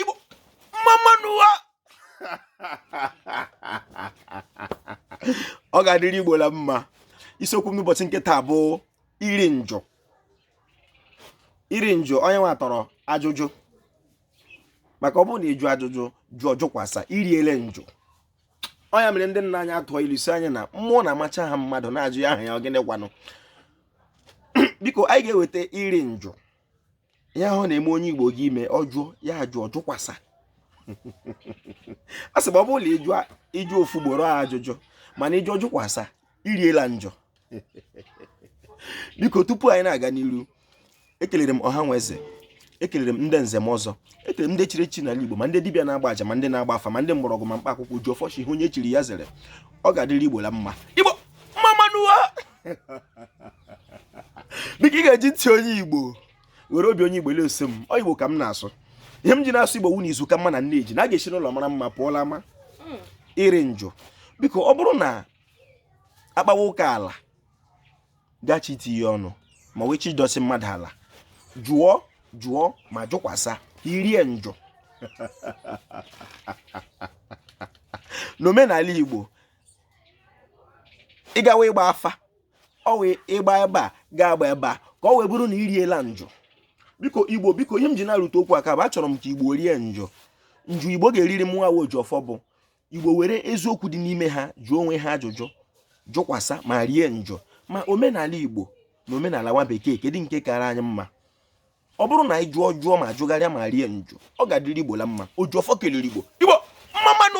Igbo mma mma nụ o ọ ga-adịrị Igbo la mma isiokwu m n'ụbọchị nke taa bụ iri njụ iri njụ ọ ya nwa tọrọ ajụjụ maka ọ bụrụ na ị jụọ ajụjụ jụọ jụkwasa i riele njụ ọ ya mere ndị nna anyị ha tụọ ilu sị anyị na mmụọ na-amacha aha mmadụ na-ajụ ya aha ya ọ gịnị kwanụ biko anyị ga-eweta iri njụ ihe ahụ na-eme onye igbo ji eme ọ jụọ ya ajụọ jụkwasa a sị ma ọ bụrụ na ị jụọ ị jụọ ofu ugboro ọ ajụjụ mana ị jụọ jụkwasa i riela njụ biko tupu anyị na-aga n'iru ekelere m ọha na eze ekelere m ndị nze na ọzọ ekelere m ndị chiri echi n'ala igbo ma ndị dibịa na-agba aja ma ndị na-agba afa ma ndị mgbọrọgwụ ma mkpa akwụkwọ ojiọfọ sị ihe onye chiri ya zere ọ ga-adịrị igbo la mma igbo mma mma nụ o biko ị ga-eji ntị onye igbo were obi onye igbo leso m ọ igbo ka m na-asụ ihe m ji na-asụ igbo wụ na izu ka mma na nne ji na a ga-esi n'ụlọ mara mma pụọ la ama hmm. iri njụ biko ọ bụrụ na a kpawa ụka ala gachi itinye ọnụ ma wee chi idosi mmadụ ala jụọ jụọ ma jụkwasa i rie njụ n'omenala igbo ị gawa ịgba afa ọ wụ ị gbaa ebe a gaa gbaa ebe a ka ọ wee bụrụ na i riela njụ biko igbo biko ihe m ji na-arụtụ okwu aka bụ achọrọ m ka igbo rie njụ njụ igbo ga-eriri mụ nwa ojiọfọ bụ igbo were eziokwu dị n'ime ha jụọ onwe ha ajụjụ jụkwasa ma rie njụ ma omenala igbo na omenala nwa bekee kedu nke kara anyị mma ọ bụrụ na anyị jụọ jụọ ma jụgharịa ma rie njụ ọ ga-adịrị igbo la mma ojiọfọ kelere igbo igbo mma mma nụ